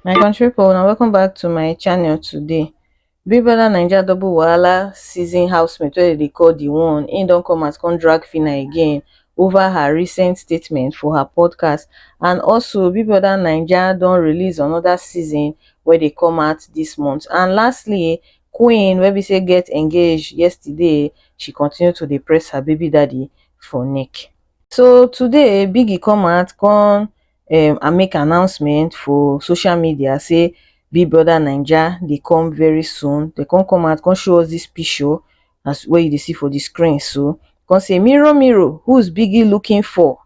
my country people now welcome back to my channel today big brother naija double wahala season housemate wey they call the one im don come as come drag fina again over her recent statement for her podcast and also big brother naija don release another season where they come out this month and lastly Queen wey be say get engage yesterday, she continue to dey press her baby daddy for neck. So today Biggie come out come um and make announcement for social media say Big Brother Naija dey come very soon. Dem come come out come show us this picture as wey you dey see for the screen so, come say mirror mirror who's Biggie looking for?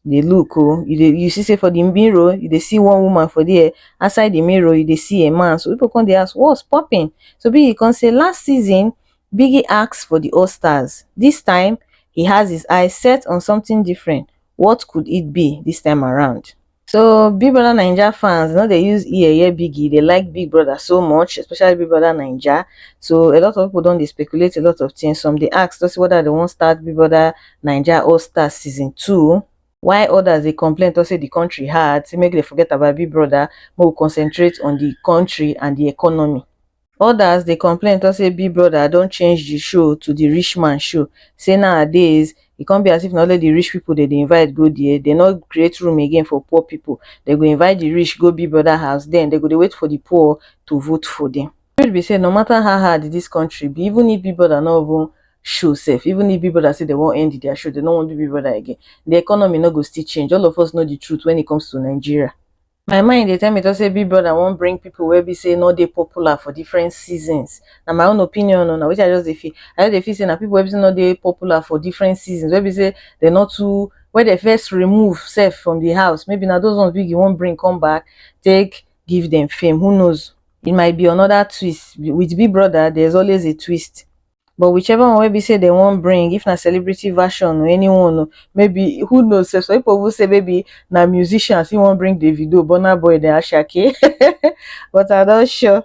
dey look oh you dey you see sey for di mirror you dey see one woman for there outside di mirror you dey see a man so pipu come dey ask what's popping so biggie come say last season biggie ask for di all stars this time he has his eye set on something different what could it be this time around so big brother naija fans no dey use ear hear biggie dey like big brother so much especially big brother naija so a lot of pipu don dey speculate a lot of things some dey ask to see whether dem wan start big brother Naija All Star Season Two. Why others dey complain talk say the country hard, say make dem forget about Big Brother, make we concentrate on the country and the economy. Others dey complain talk say Big Brother don change the show to the rich man show, say nowadays e come be as if na only the rich people dem dey invite go there, dem no create room again for poor people, dem go invite the rich go Big Brother house, then dem go dey wait for the poor to vote for them. truth be say no matter how hard this country be even if big brother no even show sef even if big brother say dem wan end their show dem no wan do big brother again the economy no go still change all of us know the truth when it comes to nigeria my mind dey tell me to say big brother wan bring people wey be say no dey popular for different seasons na my own opinion o na wetin i just dey feel i just dey feel say na people wey be say no dey popular for different seasons wey be say dem no too wey dem first remove sef from the house maybe na those ones wey you wan bring come back take give dem fame who knows it might be another twist with big brother there's always a twist but whichever one wey be say they won't bring if na celebrity version or anyone or maybe who knows sef some people even say maybe na musicians he won't bring davido burna boy then ashake but i don sure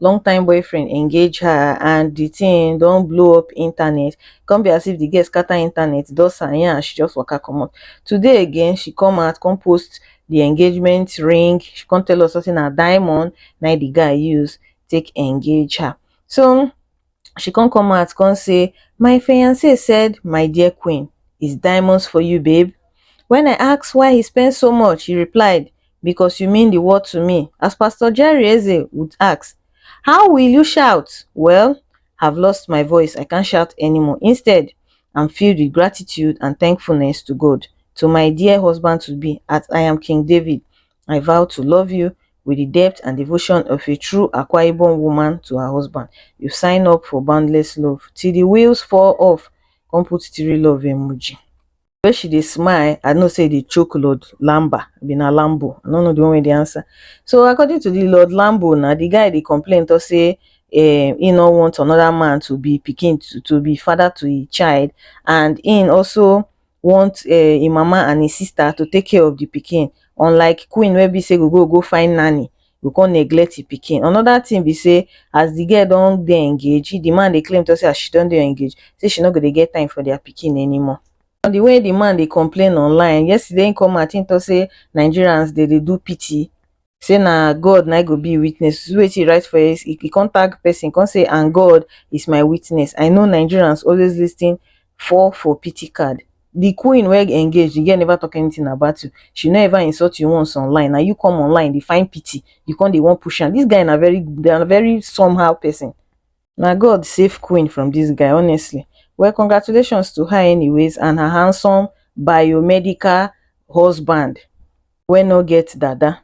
long time boyfriend engage her and the thing don't blow up internet come be as if the girl scatter internet does her and she just waka come out today again she come out come post the engagement ring she come tell us something a diamond now the guy use take engage her so she come come out come say my fiance said my dear queen is diamonds for you babe when i ask why he spend so much he replied because you mean the world to me as pastor jerry eze would ask how will you shout well have lost my voice i can't shout anymore instead i'm filled with gratitude and thankfulness to god to my dear husband to be at i am king david i vow to love you with the depth and devotion of a true Akwa Ibom woman to her husband. You sign up for boundless love till the wheels fall off. Come put three love emoji. When she dey smile, I know say the choke Lord Lamba, be na Lambo. I don't know the one with the answer. So according to the Lord Lambo, now the guy they complain to say eh, he no want another man to be picking to, to be father to a child, and in also want um im mama and im sister to take care of the pikin unlike queen wey be say go go go find nanny go come neglect im pikin. Another thing be say as the girl don dey engage, the man dey claim talk say as she don dey engage say she no go dey get time for their pikin anymore. And the way the man dey complain online, yesterday im come out im talk say Nigerians dem dey do pity say na God na go be witness see wetin he write for here he come tag person come say and God is my witness I know Nigerians always listen for for pity card the queen wey engage the girl never talk anything about you she no ever insult you once online na you come online dey find pity you come dey wan push am this guy na very na very somehow person na god save queen from dis guy honestly well congratulations to her anyways and her handsome biomedical husband wey no get dada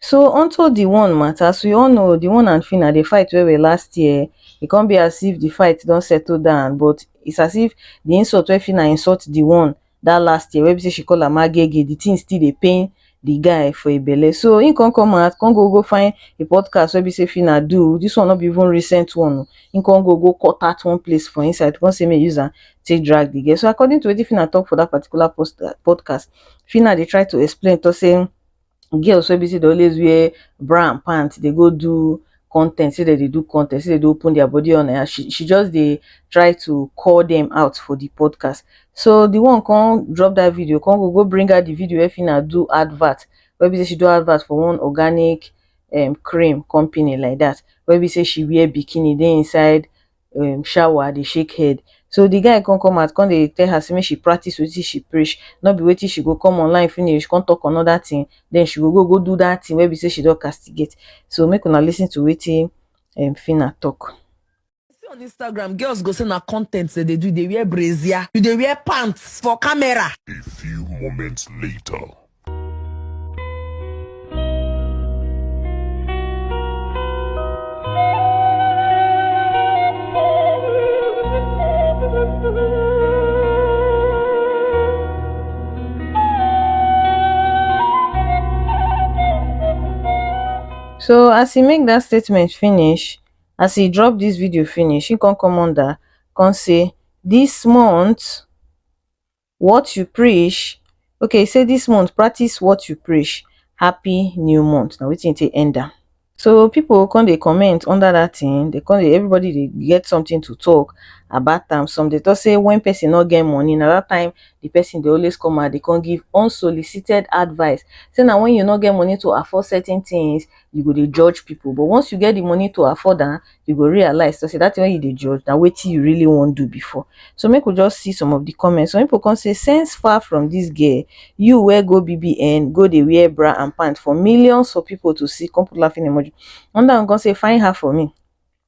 so unto the one matter as we all know the one and phyna dey fight well well last year e come be as if the fight don settle down but it's as if the insult wey phyna insult the one that last year wey be say she call am agege the thing still dey pain the guy for a belle so he come come out come go go find a podcast wey be say Fina do this one no be even recent one o he come go go cut out one place for inside come say make he use am take drag the girl so according to wetin Fina talk for that particular post podcast Fina dey try to explain talk say girls wey be say dey always wear bra and pant dey go do content say dem dey do content say dem dey open their body on air she she just dey try to call them out for the podcast so the one come drop that video come go go bring out the video wey Fina do advert wey be say she do advert for one organic um cream company like that wey be say she wear bikini dey inside um shower dey shake head so the guy come come out come dey tell her say make she practice wetin she preach no be wetin she go come online finish come talk another thing then she go go go do that thing wey be say she don castigate so make una listen to wetin um Phyna talk. see on Instagram girls go say na content dem dey do, you dey wear brazier, you dey wear pants for camera. A few moments later. so as he make that statement finish as he drop this video finish he come come under come say this month what you preach okay e say this month practice what you preach happy new month na wetin e take end am so people come dey comment under that thing they come dey everybody dey get something to talk about am some dey talk say when person no get money na that time the person dey always come out dey come give unsolicited advice say na when you no get money to afford certain things you go dey judge people but once you get the money to afford am you go realize so say that thing wey you dey judge na wetin you really wan do before so make we just see some of the comments some people come say sense far from this girl you wey go bbn go dey wear bra and pant for millions of people to see come put laughing emoji another one come say find her for me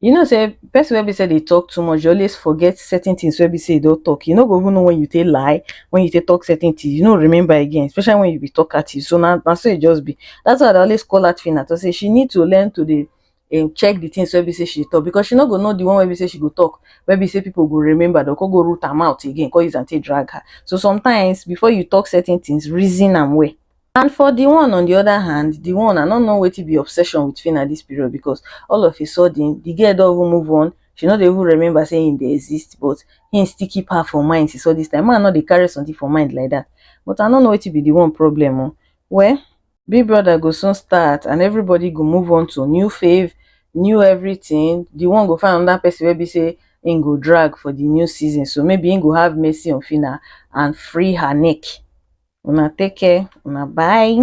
you know say person wey be say dey talk too much dey always forget certain things wey be say e don talk you no go even know when you take lie when you take talk certain things you no remember again especially when you be talk artist so na na so e just be that's why I dey always call that Phyna to say she need to learn to dey um check the things wey be say she talk because she no go know the one wey be say she go talk wey be say people go remember dem go come go root her mouth again come use am take drag her so sometimes before you talk certain things reason am well And for the one on the other hand, the one I no know wetin be obsession with Phyna this period because all of a sudden the girl don even move on, she no dey even remember say him dey exist but him still keep her for mind since all this time. Man no dey carry something for mind like that but I no know wetin be the one problem o. Well, Big Brother go soon start and everybody go move on to new fave, new everything, the one go find another person wey be say im go drag for di new season so maybe im go have mercy on Phyna and free her neck. Una take care, una bye.